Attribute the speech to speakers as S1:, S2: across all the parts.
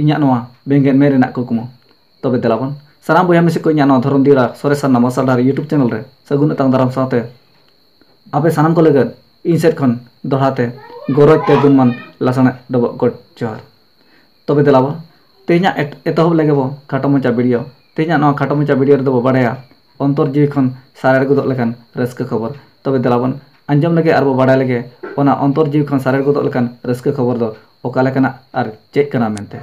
S1: ᱤᱧᱟᱹᱜ ᱱᱚᱣᱟ ᱵᱮᱸᱜᱮᱫ ᱢᱮᱫ ᱨᱮᱱᱟᱜ ᱠᱩᱠᱢᱩ ᱛᱚᱵᱮ ᱫᱮᱞᱟ ᱵᱚᱱ ᱥᱟᱱᱟᱢ ᱵᱚᱭᱦᱟ ᱢᱤᱥᱤ ᱠᱚ ᱤᱧᱟᱹᱜ ᱱᱚᱣᱟ ᱫᱷᱚᱨᱚᱢ ᱫᱤᱭᱟᱹᱲᱟ ᱥᱚᱨᱮᱥ ᱥᱟᱨᱱᱟ ᱢᱟᱨᱥᱟᱞ ᱰᱟᱦᱟᱨ ᱤᱭᱩᱴᱩᱵᱽ ᱪᱮᱱᱮᱞ ᱨᱮ ᱥᱟᱹᱜᱩᱱ ᱟᱛᱟᱝ ᱫᱟᱨᱟᱢ ᱥᱟᱶᱛᱮ ᱟᱯᱮ ᱥᱟᱱᱟᱢ ᱠᱚ ᱞᱟᱹᱜᱤᱫ ᱤᱧ ᱥᱮᱫ ᱠᱷᱚᱱ ᱫᱚᱦᱲᱟ ᱛᱮ ᱜᱚᱨᱚᱡᱽ ᱛᱮ ᱜᱩᱱᱢᱟᱱ ᱞᱟᱥᱟᱬ ᱰᱚᱵᱚᱜ ᱜᱚᱰ ᱡᱚᱦᱟᱨ ᱛᱚᱵᱮ ᱫᱮᱞᱟ ᱵᱚᱱ ᱛᱮᱦᱮᱧᱟᱜ ᱮᱛᱚᱦᱚᱵ ᱞᱮᱜᱮ ᱵᱚ ᱠᱷᱟᱴᱚ ᱢᱟᱪᱷᱟ ᱵᱷᱤᱰᱤᱭᱳ ᱛᱮᱦᱮᱧᱟᱜ ᱱᱚᱣᱟ ᱠᱷᱟᱴᱚ ᱢᱟᱪᱷᱟ ᱵᱷᱤᱰᱤᱭᱳ ᱨᱮᱫᱚ ᱵᱚ ᱵᱟᱲᱟᱭᱟ ᱚᱱᱛᱚᱨ ᱡᱤᱣᱤ ᱠᱷᱚᱱ ᱥᱟᱨᱮᱲ ᱜᱚᱫᱚᱜ ᱞᱮᱠᱟᱱ ᱨᱟᱹᱥᱠᱟᱹ ᱠᱷᱚᱵᱚᱨ ᱛᱚᱵᱮ ᱫᱮᱞᱟ ᱵᱚᱱ ᱟᱸᱡᱚᱢ ᱞᱮᱜᱮ ᱟᱨ ᱵᱚᱱ ᱵᱟᱲᱟᱭ ᱞᱮᱜᱮ ᱚᱱᱟ ᱚᱱᱛᱚᱨ ᱡᱤᱣᱤ ᱠᱷᱚᱱ ᱥᱟᱨᱮᱲ ᱜᱚᱫᱚᱜ ᱞᱮᱠᱟᱱ ᱨᱟᱹᱥᱠᱟᱹ ᱠᱷᱚᱵᱚᱨ ᱫᱚ ᱚᱠᱟ ᱞᱮᱠᱟᱱᱟᱜ ᱟᱨ ᱪᱮᱫ ᱠᱟᱱᱟ ᱢᱮᱱᱛᱮ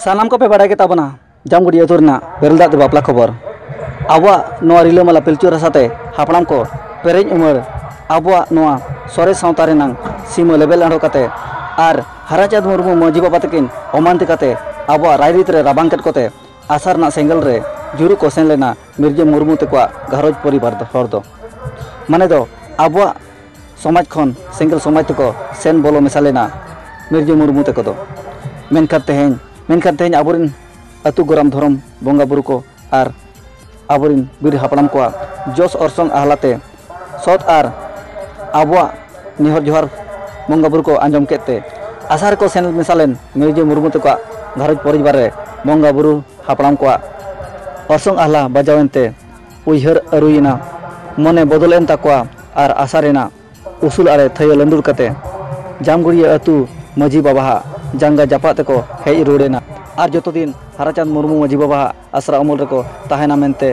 S1: ᱥᱟᱱᱟᱢ ᱠᱚᱯᱮ ᱵᱟᱲᱟᱭ ᱜᱮᱛᱟ ᱵᱚᱱᱟ ᱡᱟᱢᱜᱚᱲᱤᱭᱟᱹ ᱟᱹᱛᱩ ᱨᱮᱱᱟᱜ ᱵᱮᱨᱮᱞ ᱫᱟᱜ ᱛᱮ ᱵᱟᱯᱞᱟ ᱠᱷᱚᱵᱚᱨ ᱟᱵᱚᱣᱟᱜ ᱱᱚᱣᱟ ᱨᱤᱞᱟᱹᱢᱟᱞᱟ ᱯᱤᱞᱪᱩ ᱨᱟᱥᱟ ᱛᱮ ᱦᱟᱯᱲᱟᱢ ᱠᱚ ᱯᱮᱨᱮᱡ ᱩᱢᱟᱹᱨ ᱟᱵᱚᱣᱟᱜ ᱱᱚᱣᱟ ᱥᱚᱨᱮᱥ ᱥᱟᱶᱛᱟ ᱨᱮᱱᱟᱜ ᱥᱤᱢᱟᱹ ᱞᱮᱵᱮᱞ ᱟᱬᱜᱚ ᱠᱟᱛᱮᱫ ᱟᱨ ᱦᱟᱨᱟᱪᱟᱸᱫᱽ ᱢᱩᱨᱢᱩ ᱢᱟᱹᱡᱷᱤ ᱵᱟᱵᱟ ᱛᱟᱹᱠᱤᱱ ᱚᱢᱟᱱᱛᱤ ᱠᱟᱛᱮᱫ ᱟᱵᱚᱣᱟᱜ ᱨᱟᱭᱨᱤᱛ ᱨᱮ ᱨᱟᱵᱟᱝ ᱠᱮᱫ ᱠᱚᱛᱮ ᱟᱥᱟ ᱨᱮᱱᱟᱜ ᱥᱮᱸᱜᱮᱞ ᱨᱮ ᱡᱩᱨᱩ ᱠᱚ ᱥᱮᱱ ᱞᱮᱱᱟ ᱢᱤᱨᱡᱟᱹ ᱢᱩᱨᱢᱩ ᱛᱮᱠᱚᱣᱟᱜ ᱜᱷᱟᱨᱚᱸᱡᱽ ᱯᱚᱨᱤᱵᱟᱨ ᱫᱚ ᱦᱚᱲ ᱫᱚ ᱢᱟᱱᱮ ᱫᱚ ᱟᱵᱚᱣᱟᱜ ᱥᱚᱢᱟᱡᱽ ᱠᱷᱚᱱ ᱥᱮᱸᱜᱮᱞ ᱥᱚᱢᱟᱡᱽ ᱛᱮᱠᱚ ᱥᱮᱱ ᱵᱚᱞᱚ ᱢᱮᱥᱟ ᱞᱮᱱᱟ ᱢᱤᱨᱡᱟᱹ ᱢᱩᱨᱢᱩ ᱛᱮᱠᱚ ᱫᱚ ᱢᱮᱱᱠᱷᱟᱱ ᱛᱮᱦᱮᱧ ᱢᱮᱱᱠᱷᱟᱱ ᱛᱮᱦᱮᱧ ᱟᱵᱚᱨᱮᱱ ᱟᱹᱛᱩ ᱜᱚᱨᱟᱢ ᱫᱷᱚᱨᱚᱢ ᱵᱚᱸᱜᱟ ᱵᱩᱨᱩ ᱠᱚ ᱟᱨ ᱟᱵᱚᱨᱤᱱ ᱵᱤᱨ ᱦᱟᱯᱲᱟᱢ ᱠᱚᱣᱟᱜ ᱡᱚᱥ ᱚᱨᱥᱚᱝ ᱟᱦᱞᱟᱛᱮ ᱥᱚᱛ ᱟᱨ ᱟᱵᱚᱣᱟᱜ ᱱᱮᱦᱚᱨ ᱡᱚᱦᱟᱨ ᱵᱚᱸᱜᱟ ᱵᱩᱨᱩ ᱠᱚ ᱟᱸᱡᱚᱢ ᱠᱮᱫ ᱛᱮ ᱟᱥᱟ ᱨᱮᱠᱚ ᱥᱮᱱ ᱢᱮᱥᱟ ᱞᱮᱱ ᱢᱤᱨᱡᱟᱹ ᱢᱩᱨᱢᱩ ᱛᱟᱠᱚᱣᱟᱜ ᱜᱷᱟᱨᱚᱸᱡᱽ ᱯᱚᱨᱤᱵᱟᱨ ᱨᱮ ᱵᱚᱸᱜᱟ ᱵᱩᱨᱩ ᱦᱟᱯᱲᱟᱢ ᱠᱚᱣᱟᱜ ᱚᱨᱥᱚᱝ ᱟᱦᱞᱟ ᱵᱟᱡᱟᱣ ᱮᱱᱛᱮ ᱩᱭᱦᱟᱹᱨ ᱟᱹᱨᱩᱭᱮᱱᱟ ᱢᱚᱱᱮ ᱵᱚᱫᱚᱞ ᱮᱱ ᱛᱟᱠᱚᱣᱟ ᱟᱨ ᱟᱥᱟ ᱨᱮᱱᱟᱜ ᱩᱥᱩᱞ ᱟᱲᱮ ᱛᱷᱟᱹᱭᱟᱹ ᱞᱟᱹᱱᱰᱩᱨ ᱠᱟᱛᱮ ᱡᱟᱢᱜᱩᱲᱤᱭᱟᱹ ᱟᱹᱛᱩ ᱢᱟᱹᱡᱷᱤ ᱵᱟᱵᱟᱦᱟᱜ ᱡᱟᱸᱜᱟ ᱡᱟᱯᱟᱜ ᱛᱮᱠᱚ ᱦᱮᱡ ᱨᱩᱣᱟᱹᱲ ᱮᱱᱟ ᱟᱨ ᱡᱚᱛᱚ ᱫᱤᱱ ᱦᱟᱨᱟᱪᱟᱸᱫᱽ ᱢᱩᱨᱢᱩ ᱢᱟᱹᱡᱷᱤ ᱵᱟᱵᱟᱦᱟᱜ ᱟᱥᱨᱟ ᱩᱢᱩᱞ ᱨᱮᱠᱚ ᱛᱟᱦᱮᱱᱟ ᱢᱮᱱᱛᱮ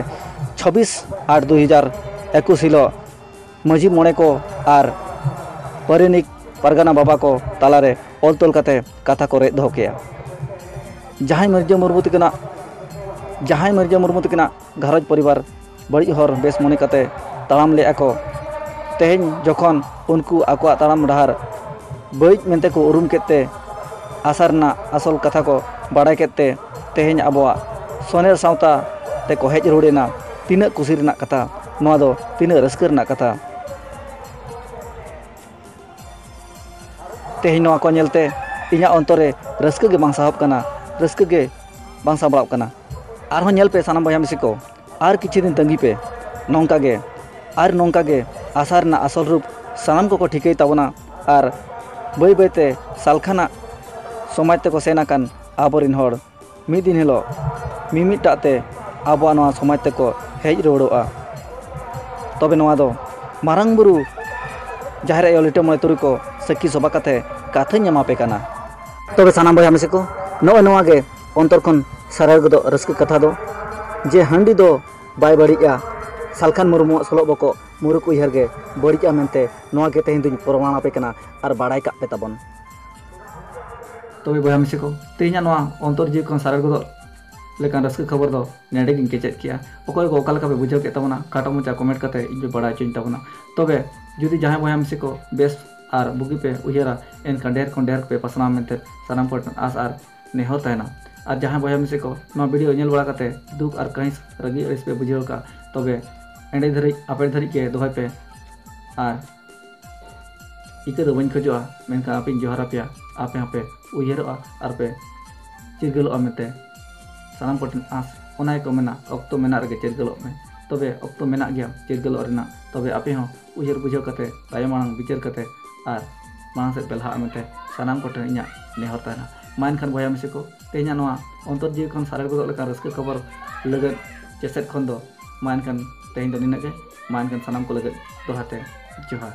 S1: ᱪᱷᱟᱵᱤᱥ ᱟᱴ ᱫᱩ ᱦᱟᱡᱟᱨ ᱮᱠᱩᱥ ᱦᱤᱞᱳᱜ ᱢᱟᱺᱡᱷᱤ ᱢᱚᱬᱮ ᱠᱚ ᱟᱨ ᱯᱟᱨᱟᱱᱤᱠ ᱯᱟᱨᱜᱟᱱᱟ ᱵᱟᱵᱟ ᱠᱚ ᱛᱟᱞᱟᱨᱮ ᱚᱞ ᱛᱚᱞ ᱠᱟᱛᱮ ᱠᱟᱛᱷᱟ ᱠᱚ ᱨᱮᱡ ᱫᱚᱦᱚ ᱠᱮᱜᱼᱟ ᱡᱟᱦᱟᱸᱭ ᱢᱤᱨᱡᱟᱹ ᱢᱩᱨᱢᱩ ᱛᱤᱠᱤᱱᱟᱜ ᱡᱟᱦᱟᱸᱭ ᱢᱤᱨᱡᱟᱹ ᱢᱩᱨᱢᱩ ᱛᱤᱠᱤᱱᱟᱜ ᱜᱷᱟᱨᱚᱸᱡᱽ ᱯᱚᱨᱤᱵᱟᱨ ᱵᱟᱹᱲᱤᱡ ᱦᱚᱨ ᱵᱮᱥ ᱢᱚᱱᱮ ᱠᱟᱛᱮ ᱛᱟᱲᱟᱢ ᱞᱮᱫᱼᱟ ᱠᱚ ᱛᱮᱦᱮᱧ ᱡᱚᱠᱷᱚᱱ ᱩᱱᱠᱩ ᱟᱠᱚᱣᱟᱜ ᱛᱟᱲᱟᱢ ᱰᱟᱦᱟᱨ ᱵᱟᱹᱲᱤᱡ ᱢᱮᱱᱛᱮ ᱠᱚ ᱩᱨᱩᱢ ᱠᱮᱫ ᱛᱮ ᱟᱥᱟ ᱨᱮᱱᱟᱜ ᱟᱥᱚᱞ ᱠᱟᱛᱷᱟ ᱠᱚ ᱵᱟᱲᱟᱭ ᱠᱮᱫ ᱛᱮ ᱛᱮᱦᱮᱧ ᱟᱵᱚᱣᱟᱜ ᱥᱚᱱᱮᱨ ᱥᱟᱶᱛᱟ ᱛᱮᱠᱚ ᱦᱮᱡ ᱨᱩᱣᱟᱹᱲ ᱮᱱᱟ ᱛᱤᱱᱟᱹᱜ ᱠᱩᱥᱤ ᱨᱮᱱᱟᱜ ᱠᱟᱛᱷᱟ ᱱᱚᱣᱟ ᱫᱚ ᱛᱤᱱᱟᱹᱜ ᱨᱟᱹᱥᱠᱟᱹ ᱨᱮᱱᱟᱜ ᱠᱟᱛᱷᱟ ᱛᱮᱦᱮᱧ ᱱᱚᱣᱟ ᱠᱚ ᱧᱮᱞᱛᱮ ᱤᱧᱟᱹᱜ ᱚᱱᱛᱚᱨ ᱨᱮ ᱨᱟᱹᱥᱠᱟᱹ ᱜᱮ ᱵᱟᱝ ᱥᱟᱦᱚᱵ ᱠᱟᱱᱟ ᱨᱟᱹᱥᱠᱟᱹ ᱜᱮ ᱵᱟᱝ ᱥᱟᱢᱵᱲᱟᱣ ᱠᱟᱱᱟ ᱟᱨᱦᱚᱸ ᱧᱮᱞ ᱯᱮ ᱥᱟᱱᱟᱢ ᱵᱚᱭᱦᱟ ᱢᱤᱥᱤ ᱠᱚ ᱟᱨ ᱠᱤᱪᱷᱩ ᱫᱤᱱ ᱛᱟᱺᱜᱤ ᱯᱮ ᱱᱚᱝᱠᱟ ᱜᱮ ᱟᱨ ᱱᱚᱝᱠᱟ ᱜᱮ ᱟᱥᱟ ᱨᱮᱱᱟᱜ ᱟᱥᱚᱞ ᱨᱩᱯ ᱥᱟᱱᱟᱢ ᱠᱚᱠᱚ ᱴᱷᱤᱠᱟᱹᱭ ᱛᱟᱵᱚᱱᱟ ᱟᱨ ᱵᱟᱹᱭ ᱵᱟᱹᱭ ᱛᱮ ᱥᱟᱞᱠᱷᱟᱱᱟᱜ ᱥᱚᱢᱟᱡᱽ ᱛᱮᱠᱚ ᱥᱮᱱ ᱟᱠᱟᱱ ᱟᱵᱚ ᱨᱮᱱ ᱦᱚᱲ ᱢᱤᱫ ᱫᱤᱱ ᱦᱤᱞᱳᱜ ᱢᱤᱢᱤᱫᱴᱟᱜ ᱛᱮ ᱟᱵᱚᱣᱟᱜ ᱱᱚᱣᱟ ᱥᱚᱢᱟᱡᱽ ᱛᱮᱠᱚ ᱦᱮᱡ ᱨᱩᱣᱟᱹᱲᱚᱜᱼᱟ ᱛᱚᱵᱮ ᱱᱚᱣᱟ ᱫᱚ ᱢᱟᱨᱟᱝ ᱵᱩᱨᱩ ᱡᱟᱦᱮᱨ ᱟᱭᱳ ᱞᱤᱴᱟᱹ ᱢᱚᱬᱮ ᱛᱩᱨᱩᱭ ᱠᱚ ᱥᱟᱹᱠᱷᱤ ᱥᱚᱵᱷᱟ ᱠᱟᱛᱮ ᱠᱟᱛᱷᱟᱧ ᱮᱢᱟᱯᱮ ᱠᱟᱱᱟ ᱛᱚᱵᱮ ᱥᱟᱱᱟᱢ ᱵᱚᱭᱦᱟ ᱢᱤᱥᱤ ᱠᱚ ᱱᱚᱜᱼᱚᱭ ᱱᱚᱣᱟ ᱜᱮ ᱚᱱᱛᱚᱨ ᱠᱷᱚᱱ ᱥᱟᱨᱟᱣ ᱜᱚᱫᱚᱜ ᱨᱟᱹᱥᱠᱟᱹ ᱠᱟᱛᱷᱟ ᱫᱚ ᱡᱮ ᱦᱟᱺᱰᱤ ᱫᱚ ᱵᱟᱭ ᱵᱟᱹᱲᱤᱡᱼᱟ ᱥᱟᱞᱠᱷᱟᱱ ᱢᱩᱨᱢᱩᱣᱟᱜ ᱥᱚᱞᱚᱜ ᱵᱚᱠᱚᱜ ᱢᱩᱨᱩᱠ ᱩᱭᱦᱟᱹᱨ ᱜᱮ ᱵᱟᱹᱲᱤᱡᱼᱟ ᱢᱮᱱᱛᱮ ᱱᱚᱣᱟ ᱜᱮ ᱛᱮᱦᱮᱧ ᱫᱚᱧ ᱯᱨᱚᱢᱟᱬ ᱟᱯᱮ ᱠᱟᱱᱟ ᱟᱨ ᱵᱟᱲᱟᱭ ᱠᱟᱜ ᱯᱮ ᱛᱟᱵᱚᱱ ᱛᱚᱵᱮ ᱵᱚᱭᱦᱟ ᱢᱤᱥᱤ ᱠᱚ ᱛᱮᱦᱮᱧᱟᱜ ᱱᱚᱣᱟ ᱚᱱᱛᱚᱨ ᱡᱤᱣᱤ ᱠᱷᱚᱱ ᱥᱟᱨᱟᱣ ᱜᱚᱫᱚᱜ ᱞᱮᱠᱟᱱ ᱨᱟᱹᱥᱠᱟᱹ ᱠᱷᱚᱵᱚᱨ ᱫᱚ ᱱᱮᱰᱮ ᱜᱤᱧ ᱠᱮᱪᱮᱫ ᱠᱮᱜᱼᱟ ᱚᱠᱚᱭ ᱠᱚ ᱚᱠᱟ ᱞᱮᱠᱟ ᱯᱮ ᱵᱩᱡᱷᱟᱹᱣ ᱠᱮᱫ ᱛᱟᱵᱚᱱᱟ ᱠᱟᱴᱟ ᱢᱚᱪᱟ ᱠᱚᱢᱮᱱᱴ ᱠᱟᱛᱮ ᱤᱧ ᱯᱮ ᱵᱟᱲᱟᱭ ᱦᱚᱪᱚᱧ ᱛᱟᱵᱚᱱᱟ ᱛᱚᱵᱮ ᱡᱩᱫᱤ ᱡᱟᱦᱟᱸᱭ ᱵᱚᱭᱦᱟ ᱢᱤᱥᱤ ᱠᱚ ᱵᱮᱥ ᱟᱨ ᱵᱩᱜᱤ ᱯᱮ ᱩᱭᱦᱟᱹᱨᱟ ᱮᱱᱠᱷᱟᱱ ᱰᱷᱮᱨ ᱠᱷᱚᱱ ᱰᱷᱮᱨ ᱯᱮ ᱯᱟᱥᱱᱟᱣ ᱢᱮᱱᱛᱮ ᱥᱟᱱᱟᱢ ᱠᱚᱴᱷᱮᱱ ᱟᱥ ᱟᱨ ᱱᱮᱦᱚᱨ ᱛᱟᱦᱮᱱᱟ ᱟᱨ ᱡᱟᱦᱟᱸᱭ ᱵᱚᱭᱦᱟ ᱢᱤᱥᱮ ᱠᱚ ᱱᱚᱣᱟ ᱵᱷᱤᱰᱤᱭᱳ ᱧᱮᱞ ᱵᱟᱲᱟ ᱠᱟᱛᱮ ᱫᱩᱠ ᱟᱨ ᱠᱟᱹᱦᱤᱥ ᱨᱟᱹᱜᱤ ᱟᱹᱲᱤᱥ ᱯᱮ ᱵᱩᱡᱷᱟᱹᱣ ᱠᱟᱜ ᱛᱚᱵᱮ ᱮᱸᱰᱮ ᱫᱷᱟᱹᱨᱤᱡ ᱟᱯᱮ ᱫᱷᱟᱹᱨᱤᱡ ᱜᱮ ᱫᱚᱦᱚᱭ ᱯᱮ ᱟᱨ ᱤᱠᱟᱹ ᱫᱚ ᱵᱟᱹᱧ ᱠᱷᱚᱡᱚᱜᱼᱟ ᱢᱮᱱᱠᱷᱟᱱ ᱟᱯᱮᱧ ᱡᱚᱦᱟᱨ ᱟᱯᱮᱭᱟ ᱟᱯᱮ ᱦᱚᱸᱯᱮ ᱩᱭᱦᱟᱹᱨᱚᱜᱼᱟ ᱟᱨ ᱯᱮ ᱪᱤᱨᱜᱟᱹᱞᱚᱜᱼᱟ ᱢᱮᱱᱛᱮ ᱥᱟᱱᱟᱢ ᱠᱚᱴᱷᱮᱱ ᱟᱸᱥ ᱚᱱᱟ ᱜᱮᱠᱚ ᱢᱮᱱᱟ ᱚᱠᱛᱚ ᱢᱮᱱᱟᱜ ᱨᱮᱜᱮ ᱪᱤᱨᱜᱟᱹᱞᱚᱜ ᱢᱮ ᱛᱚᱵᱮ ᱚᱠᱛᱚ ᱢᱮᱱᱟᱜ ᱜᱮᱭᱟ ᱪᱤᱨᱜᱟᱹᱞᱚᱜ ᱨᱮᱱᱟᱜ ᱛᱚᱵᱮ ᱟᱯᱮ ᱦᱚᱸ ᱩᱭᱦᱟᱹᱨ ᱵᱩᱡᱷᱟᱹᱣ ᱠᱟᱛᱮ ᱛᱟᱭᱚᱢ ᱢᱟᱲᱟᱝ ᱵᱤᱪᱟᱹᱨ ᱠᱟᱛᱮ ᱟᱨ ᱢᱟᱲᱟᱝ ᱥᱮᱫ ᱯᱮ ᱞᱟᱦᱟᱜᱼᱟ ᱢᱮᱱᱛᱮ ᱥᱟᱱᱟᱢ ᱠᱚᱴᱷᱮᱱ ᱤᱧᱟᱹᱜ ᱱᱮᱦᱚᱨ ᱛᱟᱦᱮᱱᱟ ᱢᱟ ᱮᱱᱠᱷᱟᱱ ᱵᱚᱭᱦᱟ ᱢᱤᱥᱤ ᱠᱚ ᱛᱮᱦᱮᱧᱟᱜ ᱱᱚᱣᱟ ᱚᱱᱛᱚᱨ ᱡᱤᱣᱤ ᱠᱷᱚᱱ ᱥᱟᱨᱮᱲ ᱜᱚᱫᱚᱜ ᱞᱮᱠᱟᱱ ᱨᱟᱹᱥᱠᱟᱹ ᱠᱷᱚᱵᱚᱨ ᱞᱟᱹᱜᱤᱫ ᱪᱮᱥᱮᱫ ᱠᱷᱚᱱ ᱫᱚ ᱢᱟ ᱮᱱᱠᱷᱟᱱ ᱛᱮᱦᱮᱧ ᱫᱚ ᱱᱤᱱᱟᱹᱜ ᱜᱮ ᱢᱟ ᱮᱱᱠᱷᱟᱱ ᱥᱟᱱᱟᱢ ᱠᱚ ᱞᱟᱹᱜᱤᱫ ᱫᱚᱦᱲᱟ ᱛᱮ ᱡᱚᱦᱟᱨ